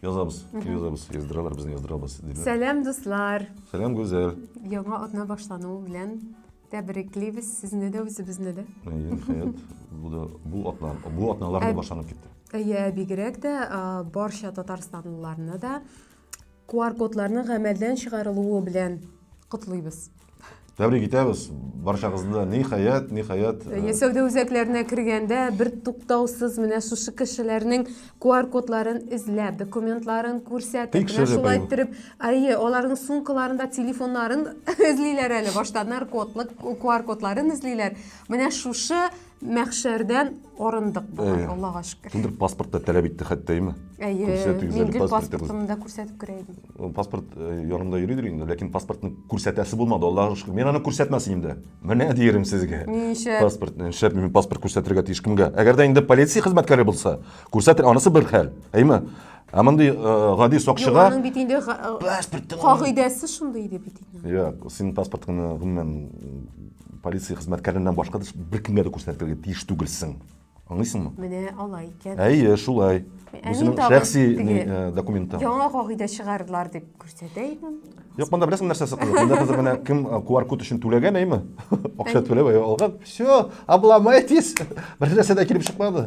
Язабыз, язабыз, яздыралар безне яздырабыз. Сәлам дуслар. Сәлам Гүзәл. Яңа атна башлану белән тәбриклибез сезне дә үзебезне дә хәят бу да бу атна бу атналар да башланып китте әйе бигрәк тә барча татарстанлыларны да QR-кодларның гамәлдән чыгарылуы белән котлыйбыз. Тәбрик итәбез барчагызны. Ниһаять, ниһаять. Э, сәүдә үзәкләренә кергәндә бер туктаусыз менә шушы кешеләрнең QR-кодларын эзләп, документларын күрсәтеп, менә шулай иттереп, әйе, аларның сумкаларында телефоннарын эзлиләр әле, башта наркотлык QR-кодларын эзлиләр. Менә шушы мәхшәрдән арындык болай аллага шөкер кемдер паспорт та таләп итте хәтта әйме әйе мин гел паспортымны да күрсәтеп керә идем паспорт янымда йөридер инде ләкин паспортны күрсәтәсе булмады аллага шөкер мин аны күрсәтмәс идем дә менә диерем сезгә ничә паспорт нишләп мин паспорт күрсәтергә тиеш кемгә әгәр дә инде полиция хезмәткәре булса күрсәтер анысы бер хәл әйме ә мондый гади сакчыга аның бит инде паспорт кагыйдәсе шундый иде бит инде синең паспортыңны гомумән Полиция хезмәткәреннән башка да беркемгә дә күрсәтергә тиеш түгелсең. Аңлыйсыңмы? Менә алай икән. Әйе, шулай. Бу синең шәхси э, документың. Яңа кагыйдә чыгардылар дип күрсәтә идем. Юк, монда беләсең нәрсәсе кызык. Монда хәзер менә кем QR э, код өчен түләгән, әйме? Акча түләп алган. Все, обломайтесь. Бер нәрсә дә килеп чыкмады.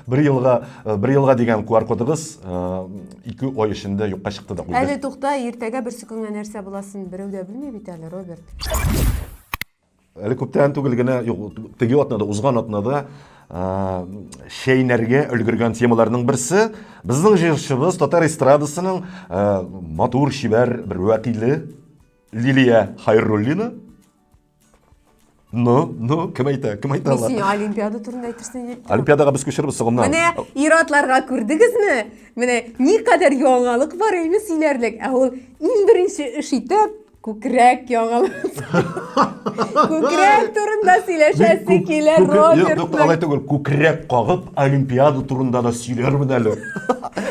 Бер елга, э, бер елга дигән куар кодыгыз э, ике ай эчендә юкка чыкты да куйды. Әле тукта, иртәгә берсе көнгә нәрсә буласын берәү дә белми бит әле, Роберт. Әле күптән түгел генә, юк, теге атнада, узган атнада шәйнәргә өлгергән темаларның берсе безнең җырчыбыз татар эстрадасының матур шибәр бер вәкиле Лилия Хайруллина Ну, ну, кем әйтә, кем әйтә алар? Син олимпиада турында әйтерсең дип. Олимпиадага без күчербез соңыннан. Менә иратларга күрдегезме? Менә никадәр яңалык бар әйме сөйләрлек. Ә ул иң беренче эш итеп күкрәк яңалык. Күкрәк турында сөйләшәсе килә Роберт. Юк, алай түгел. Күкрәк кагып олимпиада турында да сөйләрмен әле.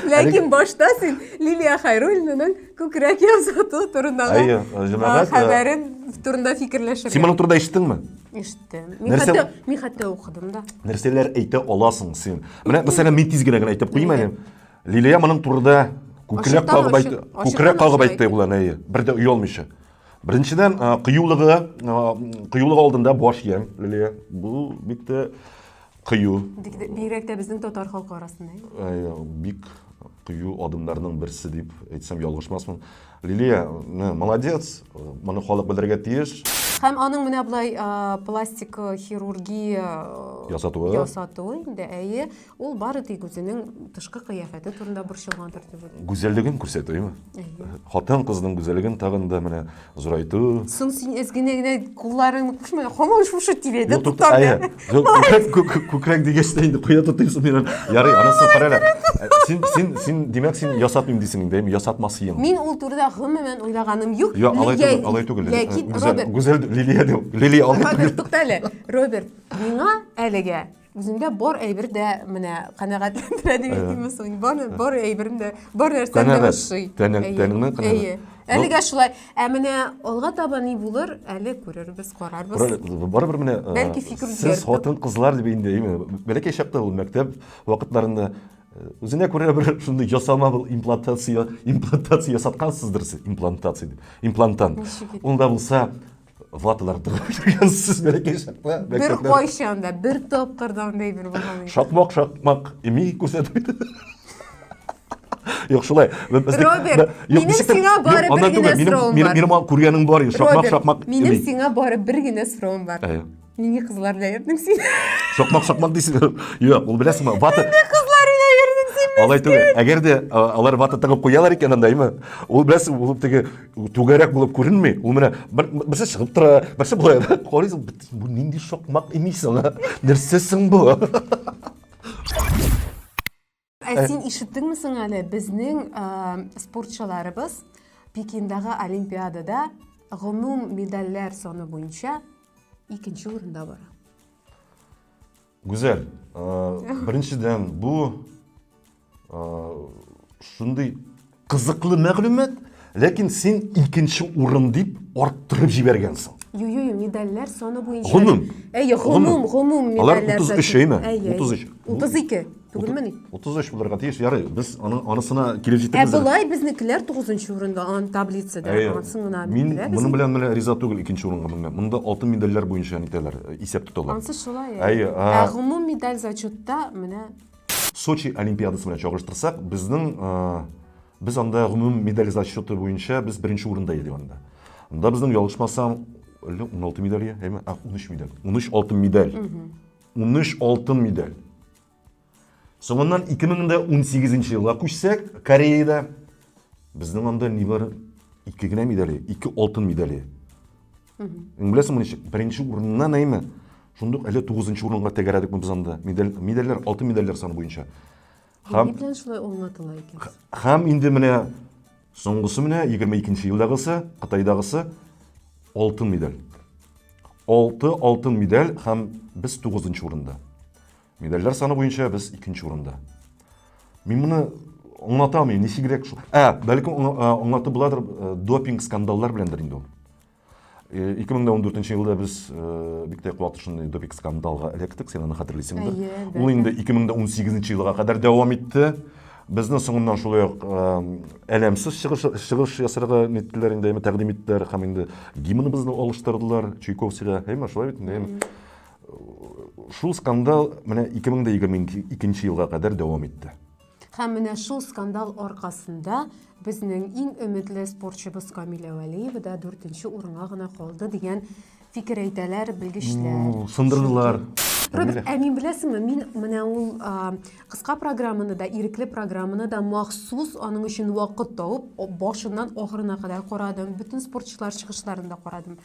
Ләкин башта син Лилия Хайруллинаның Күкрәк ясату турындагы Әйе, э, җәмәгать, э, хәбәрен турында фикерләшергә. Син моны турыда ишеттеңме? Ишеттем. Мин Нәрсә- хәтта, мин хәтта укыдым да. Нәрсәләр әйтә аласың син? Менә мәсәлән, мин тиз генә генә әйтеп куймы әле. Лилия моның турыда күкрәк Ачыктан кагып ачык, әйтте. ачыктан Күкрәк ачык кагып әйтте әйтте. ул әнә, әйе. Бер дә оялмыйча. Беренчедән, а, кыюлыгы, а, кыюлыгы алдында баш иям, Лилия. Бу бик тә кыю. Бигрәк тә безнең татар халкы арасында. Э, бик кыю адымнарның берсе дип әйтсәм ялгышмасмын. Лилия, молодец, моны халык белергә тиеш. Һәм аның менә болай пластик хирургия ясатуы. Ясатуы инде, әйе. Ул бары тик үзенең тышкы кыяфәте турында борчылгандыр дип уйлыйм. Гүзәллеген күрсәтү, әйме? Хатын-кызның гүзәллеген тагын да менә Зурайту. Соң син эз генә генә кулларыңны кушмай, хаман шушы тирәдә тотам. Күкрәк күкрәк дигәч тә инде куя тотыйм соң мин. Ярый, анысы кара әле. Син син син димәк син ясатмыйм дисең инде, ясатмас идең. Мин ул турыда гомумән уйлаганым юк. Юк, алай түгел, алай түгел. Ләкин Роберт. Гүзәл Лилия дим. Лилия алай түгел. Тукта әле. Роберт, миңа әлегә Үземдә бар әйбер дә менә канәгатьләндерә дип әйтимме соң. Бар бар әйберем дә, бар нәрсәм дә ошый. Тәнеңне канәгать. Әлегә шулай. Ә менә алга таба ни булыр, әле күрербез, карарбыз. Барыбер менә бәлки фикер үзгәртер. Сез хатын кызлар дип инде, бәләкәй чакта ул мәктәп вакытларында Үзенә күрә бер шундый ясама был имплантация, имплантация ясаткансыздыр сез, имплантация дип, имплантант. Ул да булса, ваталар тыгып йөргәнсез бәләкәй чакта бер кайчан да бер тапкыр да андай бер булган шакмак шакмак ми күрсәтмәде Юк, шулай. Роберт, минем сиңа бары бер генә сорауым бар. Минем күргәнең бар, шакмак шакмак. Минем сиңа бары бер генә сорауым бар. Нинди кызлар белән йөрдең син? Сокмак сокмак дисең. Юк, ул беләсеңме? Вата. Нинди кызлар белән йөрдең син? Алай түгел. Әгәр дә алар вата тыгып куялар икән анда, әйме? Ул беләсең, ул теге түгәрәк булып күренми. Ул менә берсе чыгып тора, берсе булай. Карыйсың, бу нинди сокмак имисең? Нәрсәсең бу? Ә э, син ишеттеңме соң әле безнең э, спортчыларыбыз Пекиндагы олимпиадада гомум медальләр саны буенча икенче урында бара. Гүзәл, э, беренчедән бу шундый Кызыклы мәгълүмат, ләкин син икенче урын дип арттырып җибәргәнсең. Юю медальләр саны буенча. Гомум. Әйе, гомум, гомум медальләр. Алар 33 әйме? 33. 32. Түгелмени? 33 булырга тиеш. Ярый, без аның анысына килеп җитәбез. Ә болай безнекеләр 9 урында ан таблицада. Ансын гына Мин моның белән менә риза түгел икенче урынга менгән. Монда алтын медальләр буенча нитәләр, исәп тоталар. Ансы шулай. Әйе. Ә гомум медаль зачетта менә Сочи олимпиадасы белән чагыштырсак, безнең без анда гомум медаль зачеты буенча без беренче урында идек анда. Анда безнең ялгышмасам 16 медаль, әйме? 13 медаль. 13 алтын медаль. 13 алтын медаль. Соңыннан 2018 елга күчсәк, Кореяда безнең анда нибары ике генә медале, ике алтын медале. Беләсең моны ничек? Беренче урыннан әйме? Шундук әле 9 нчы урынга тәгәрәдек без анда. Медаль медальләр, алтын медальләр саны буенча. Һәм Ни белән шулай уңатыла икән? Һәм инде менә соңгысы менә 22 нче елдагысы, Кытайдагысы алтын медаль. 6 алтын медаль һәм без 9 нчы урында. Медальләр саны буенча без икенче урында. Мин моны аңлата алмыйм, ничегрәк шул. Ә, бәлкем аңлатып буладыр, допинг скандаллар беләндер инде ул. 2014 елда без бик тә куатлы шундый допинг скандалга эләктек, син аны хәтерлисеңдер. Ул инде 2018 елга кадәр дәвам итте. Безне соңыннан шулай ук әләмсез чыгыш, чыгыш ясарга ниттеләр инде, әйме, тәкъдим иттеләр һәм инде гимныбызны алыштырдылар Чуйковскийга. Әйме, шулай бит инде, әйме. Шул скандал менә 2022 елга кадәр дәвам итте. Һәм менә шул скандал аркасында безнең иң өметле спортчыбыз Камилә Вәлиева да 4 урынга гына калды дигән фикер әйтәләр белгечләр. Сындырдылар. Роберт, ә мин беләсеңме, мин менә ул кыска программаны да, ирекле программаны да махсус аның өчен вакыт тауып, башыннан ахырына кадәр карадым, бөтен спортчылар чыгышларын да карадым.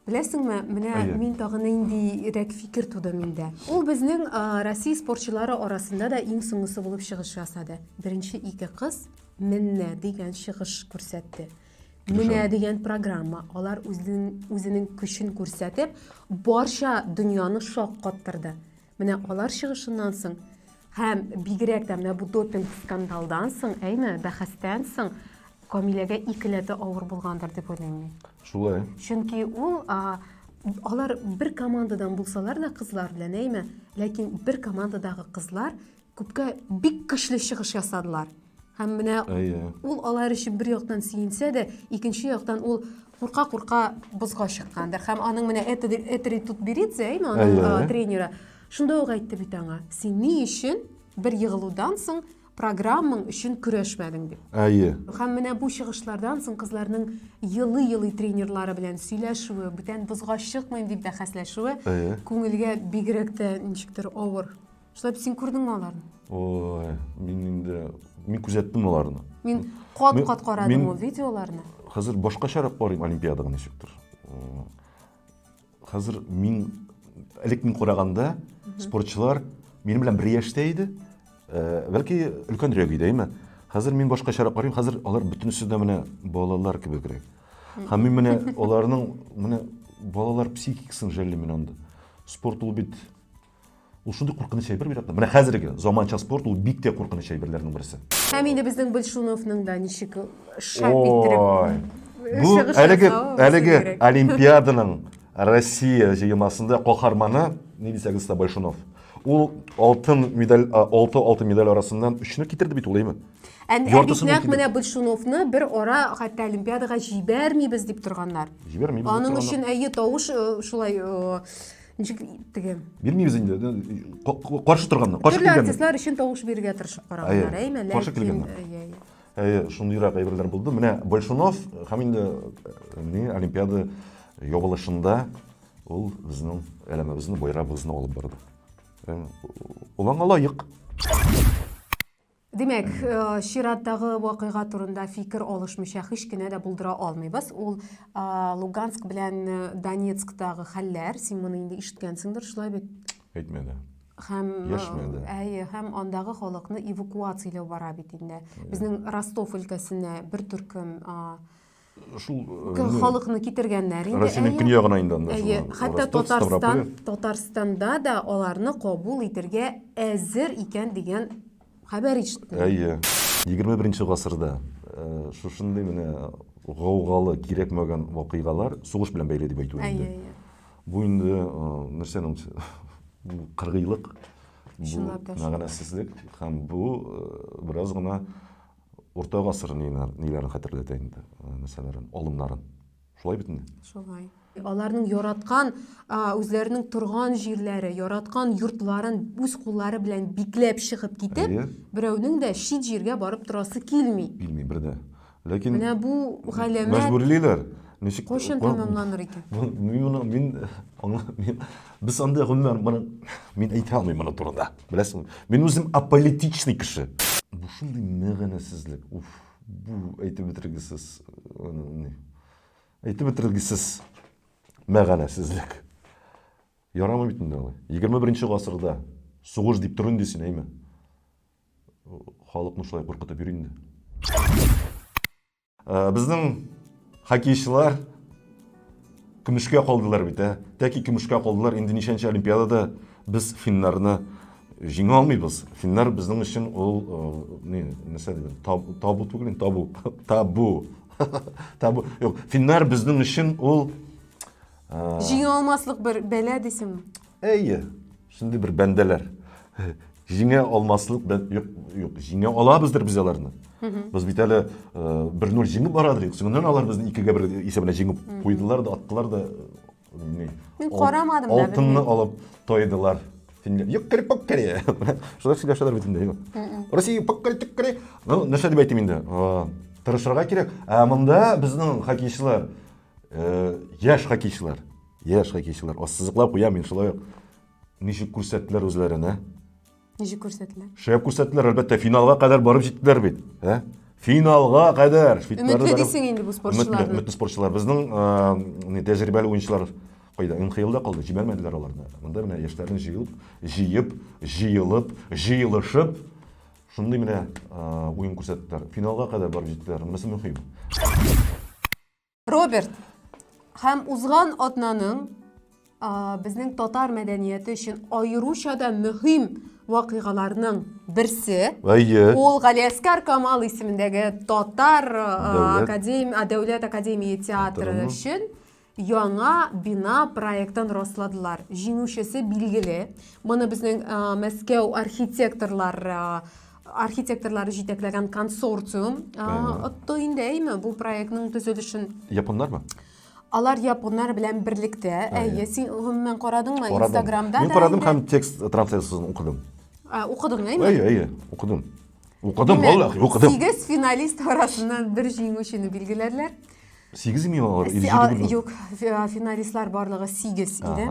Беләсеңме, менә Әйе. мин тагын нинди рәк фикер туды миндә. Ул безнең Россия спортчылары арасында да иң соңгысы булып чыгыш ясады. Беренче ике кыз Менә дигән чыгыш күрсәтте. Менә дигән программа. Алар үзенең үзенең көчен күрсәтеп, барча дөньяны шаккаттырды. Менә алар чыгышыннан соң һәм бигрәк тә менә бу допинг скандалдан соң, әйме, бәхәстән соң Камиләгә икеләтә авыр булгандыр дип уйлыйм мин. Шулай. Чөнки ул а, алар бер командадан булсалар да кызлар белән, әйме, ләкин бер командадагы кызлар Күпкә бик көчле чыгыш ясадылар. Һәм менә ул алар өчен бер яктан сөенсә дә, икенче яктан ул курка-курка бозга чыккандыр. Һәм аның менә Этери тут беридзе, әйме, аның тренеры. Шунда ук әйтте бит аңа, син ни өчен бер егылудан соң программаң өчен көрәшмәдең дип. Әйе. Һәм менә бу чыгышлардан соң кызларның елый-елый тренерлары белән сөйләшүе, бүтән бозга чыкмыйм дип бәхәсләшүе күңелгә бигрәк тә ничектер авыр Шулай бит син күрдеңме аларны? Ой, мин инде мин күзәттем аларны. Мин кат-кат карадым ул видеоларны. Хәзер башкачарак карыйм олимпиадага ничектер. Хәзер мин элек мин караганда спортчылар минем белән бер яшьтә иде. Э, бәлки өлкәнрәк иде, әйме? Хәзер мин башкачарак карыйм. Хәзер алар бөтенесе дә менә балалар кебегрәк. Һәм мин менә аларның менә балалар психикасын жәллим мин анда. Спорт ул бит Ул шундый куркыныч әйбер бит менә хәзерге заманча спорт ул бик тә куркыныч әйберләрнең берсе. Һәм инде безнең Большуновның да ничек шәп иттереп Бу әлеге әлеге олимпиаданың Россия җыелмасында каһарманы ни дисәгез дә Большунов. Ул алтын медаль, алты алтын медаль арасыннан өчне китерде бит ул, әйме? Ә бит нәкъ менә Большуновны бер ара хәтта Олимпиадага җибәрмибез дип торганнар. Җибәрмибез. Аның өчен әйе тавыш шулай ничек теге бирмейбез инде каршы торганнар каршы төрле артистлар өчен тавыш бирергә тырышып караганнар әйме каршы килгәннәр әйе шундыйрак әйберләр булды менә большунов һәм инде не олимпиада ябылышында ул безнең әләмебезне байрагыбызны алып барды олаңа лаек Димәк, э, чираттагы вакыйга турында фикер алышмыйча һич кенә дә булдыра алмыйбыз. Ул Луганск белән э, Донецктагы хәлләр, син моны инде ишеткәнсеңдер, шулай бит? Әйтмәде. Һәм Яшмәде. Э, әйе, һәм андагы халыкны эвакуацияләү бара бит инде. Безнең Ростов өлкәсенә бер төркем шул э, халыкны китергәннәр инде россиянең көньягына инде анда әйе хәтта татарстан татарстанда да аларны кабул итергә әзер икән дигән хәбәр ишеттем әйе егерме беренче гасырда э, шушындый менә гаугалы кирәкмәгән вакыйгалар сугыш белән бәйле дип әйтү инде бу инде э, нәрсәне кыргыйлык бу мәгънәсезлек һәм бу бераз гына Урта гасыр ниләрен хәтерләтә инде, нәрсәләрен, алымнарын. Шулай бит инде? Шулай. Аларның яраткан үзләренең торган җирләре, яраткан йортларын үз куллары белән бикләп чыгып китеп, берәүнең дә чит җиргә барып торасы килми. Килми бер дә. Ләкин Менә бу галәмәт мәҗбүрлиләр. Ничек кайчан тәмамланыр икән? Мин мин без андый гомумән мин әйтә алмыйм моны турында. Беләсеңме? Мин үзем аполитичный кеше. Бу шундый мәгънәсезлек. Уф, бу әйтеп бетергесез. Әйтеп бетергесез мәгънәсезлек. Ярамый бит инде алай. 21 гасырда сугыш дип тор инде син, әйме. Халыкны шулай куркытып йөр инде. Э, безнең хоккейчылар көмешкә калдылар бит, ә? Тәки көмешкә калдылар. Инде ничәнче олимпиадада без финнарны җиңә алмыйбыз. Финнар безнең өчен ул э, ни, нәрсә дип, табу, табу түгел, табу, табу. табу. Юк, финнар безнең өчен ул э, Җиңә алмаслык бер бәла дисең. Әйе. Шундый бер бәндәләр. Җиңә алмаслык, юк, юк, җиңә алабыздыр без аларны. Без бит әле 1-0 э, җиңеп бара идек. Соңыннан алар безне 2-ге 1 исәбенә җиңеп куйдылар да, аттылар да. Э, Мин карамадым да. Алтынны алып тойдылар. Юк, кереп пак кере. Шулай сөйләшәләр бит инде. Россия пак кереп тик кере. Ну, нәрсә дип әйтим инде? Э, Тырышырга кирәк. Ә монда безнең хоккейчылар, яшь хоккейчылар, Йә, шулай килсеннәр. Ассызыклап куям мин шулай ук. Ничек күрсәттеләр үзләрен, ә? Ничек күрсәтелә? Шәп күрсәттеләр, әлбәттә, финалга кадәр барып җиттеләр бит. Ә? Финалга кадәр. Швейцарлар Өметле барып- дисең инде бу Өметле, спортчыларны. өметле спортчылар. Безнең а, не, тәҗрибәле уенчылар кайда? МХЛда калды, җибәрмәделәр аларны. Монда менә яшьләрне җыелып, җыеп, җыелып, җыелышып, шундый менә а, уен күрсәттеләр. Финалга кадәр барып җиттеләр. Монысы мөһим. Роберт, һәм узган атнаның безнең татар мәдәнияте өчен аеруча да мөһим вакыйгаларның берсе. Әйе. Ул Галиәскар Камал исемендәге татар академ, дәүләт академия театры өчен яңа бина проектын расладылар. Җиңүчесе билгеле. Моны безнең Мәскәү архитекторлар архитекторлар җитәкләгән консорциум отты инде әйме бу проектның төзелешен японнармы алар японнар белән берлектә әйе син гомумән карадыңмы инстаграмда мин карадым һәм текст трансляциясен укыдым укыдың әйме әйе әйе укыдым укыдым валлахи укыдым сигез финалист арасыннан бер җиңүчене билгеләрләр сигезме алар или юк финалистлар барлыгы сигез иде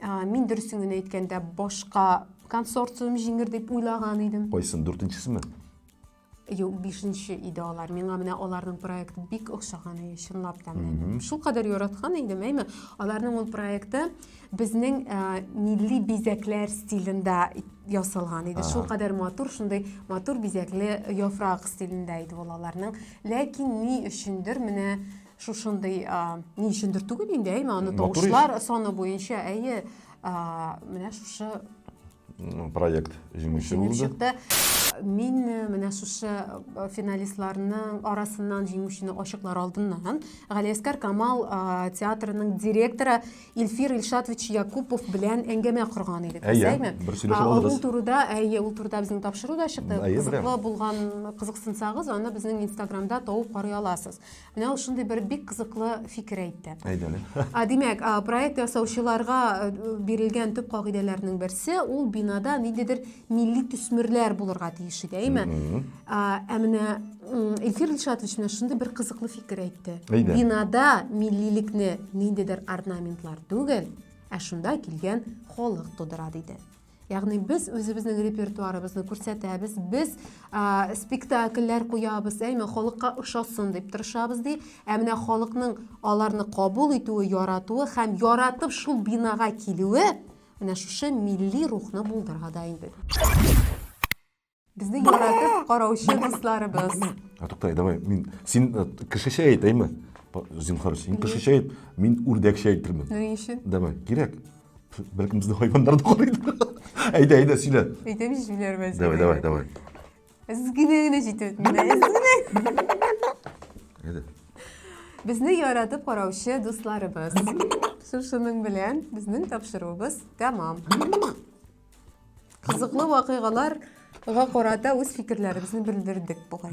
Мин дөресен генә әйткәндә башка консорциум җиңер дип уйлаган идем. Кайсын, дүртенчесеме? Юк, бишенче иде алар. Миңа менә аларның проекты бик охшаган иде, чынлап та. Шул кадәр яраткан идем, әйме? Аларның ул проекты безнең милли бизәкләр стилендә ясалган иде. Шул кадәр матур, шундый матур бизәкле яфрак стилендә иде ул аларның. Ләкин ни өчендер менә шушындый ни өчендер түгел инде әйме аны тавышлар саны буенча әйе менә шушы проект җиңүче булды мин менә шушы финалистларның арасыннан җиңүчене ачыклар алдыннан галиәскар камал театрының директоры илфир илшатович якупов белән әңгәмә корган идек әйе бер сөйләшеп алдыгыз ул турыда әйе ул турыда безнең тапшыру да чыкты кызыклы булган кызыксынсагыз аны безнең инстаграмда табып карый аласыз Менә ул шундый бер бик кызыклы фикер әйтте. Әйдәле. А, димәк, проект ясаучыларга э, бирелгән төп кагыйдәләрнең берсе ул бинада ниндидер милли төсмерләр булырга тиеш иде, әйме? Ә менә Илфир Илшатович менә шундый бер кызыклы фикер әйтте. Әйдә. Бинада миллилекне ниндидер орнаментлар түгел, ә шунда килгән халык тудыра диде. Ягъни без үзебезнең репертуарыбызны күрсәтәбез, без ә, спектакльләр куябыз, әйме халыкка ошасын дип тырышабыз ди. Ә менә халыкның аларны кабул итүе, яратуы һәм яратып шул бинага килүе менә шушы милли рухны булдыра да инде. Безне яратып караучы дусларыбыз. А туктай, давай, мин син э, кешечә әйт, әйме? Зинхар, син кешечә әйт, мин үрдәкчә әйтермен. Ни өчен? Давай, кирәк. Бәлкем безне хайваннар да карыйдыр. Әйдә, әйдә, сөйлә. Әйтәм җүләр мәзәк. Давай, давай, давай. Эзгене генә җитеп, мин эзгене. Әйдә. Безне яратып караучы дусларыбыз. Шушының белән безнең тапшыруыбыз тәмам. Кызыклы вакыйгаларга карата үз фикерләребезне белдердек бугай.